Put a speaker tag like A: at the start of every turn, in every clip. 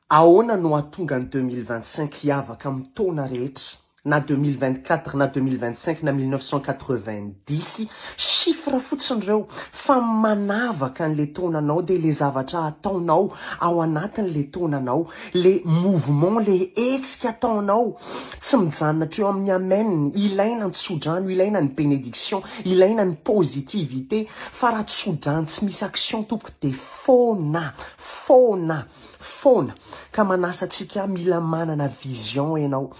A: Ahoana no hahatonga ny deux mille vingt cinq hiavaka amin'ny taona rehetra na deux mille vingt quatre na deux mille vingt cinq na mille neuf cent quatre vingt dix? Chiffres fotsiny ireo fa ny manavaka an'ilay taonanao dia ilay zavatra ataonao ao anatin'ilay taonanao, ilay mouvement, ilay hetsika ataonao tsy mijanona hatreo amin'ny amen, ilaina ny tsodrano, ilaina ny benediction, ilaina ny positivité fa raha tsodrano tsy misy action tompoko dia. foana, foana, foana ka manasa antsika mila manana vision ianao,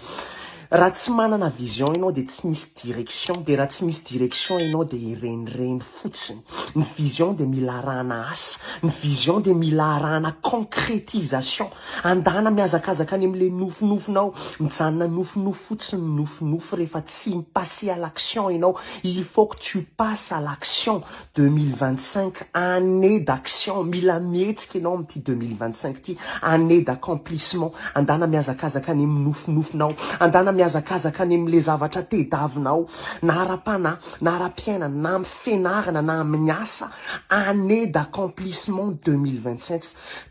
A: raha tsy manana vision ianao dia tsy misy direction, dia raha tsy misy direction ianao dia hirenireny fotsiny, ny vision dia mila arahana asa, ny vision dia mila arahana concrétisation, andana mihazakazaka any amin'ilay nofinofinao, mijanona nofinofy fotsiny ny nofinofy rehefa tsy mi-passer à l'action ianao, il faut que tu passes à l'action, Deux mille vingt cinq année d'action mila mihetsika ianao amin'ity deux mille vingt cinq ity année d'accomplissement andana mihazakazaka any amin'ny nofinofinao andana mihazakazaka any amin'ilay zavatra tedavinao na ara-panahy na ara-piainana na amin'ny fianarana na amin'ny asa année d'accomplissement deux mille vingt cinq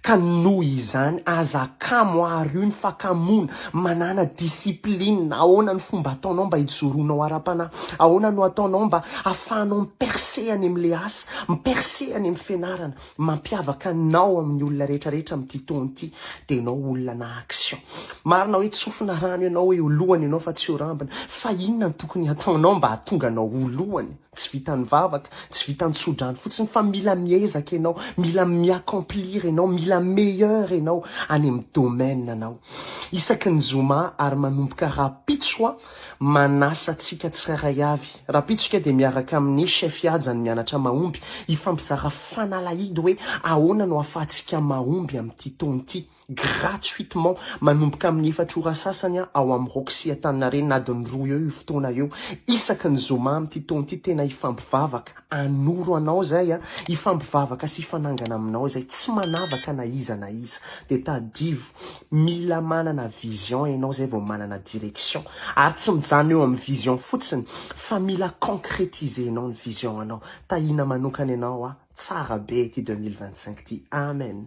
A: Ka noho izany, aza akamo àry io ny fakamoana. Manàna discipline. Ahoana ny fomba ataonao mba hijoroanao ara-panahy? Ahoana no ataonao mba hahafahanao mi-percer any amin'ilay asa, mi-percer any amin'ny fianarana? Mampiavaka anao amin'ny olona rehetrarehetra amin'ity taona ity dia ianao olona action. Marina hoe tsofina rano ianao eo lohany ianao fa tsy eo rambony. Fa inona no tokony hataonao mba hahatonga anao ho lohany? Tsy vitan'ny vavaka, tsy vitan'ny tsodrano fotsiny fa mila miezaka ianao, mila mi-accomplir ianao, mila meilleur ianao any amin'ny domaine anao. Isaky ny zoma ary manomboka rahampitso aho manasa antsika tsirairay avy. Rahampitso isika dia miaraka amin'ny Chef Ihaja ny Mianatra Mahomby hifampizara fanalahidy hoe ahoana no ahafahantsika mahomby amin'ity taona ity. gratuitement manomboka amin'ny efatra ora sasany ao amin'ny Roxy Antaninarenina adiny roa eo io fotoana io isaky ny zoma amin'ity taona ity tena hifampivavaka hanoro anao izay hifampivavaka sy hifanangana aminao izay tsy manavaka na iza na iza dia tadivo mila manana vision ianao izay vao manana direction ary tsy mijanona eo amin'ny vision fotsiny fa mila concretiser nao ny vision anao tahiana manokana ianao aho tsara be ity 2025 ity amen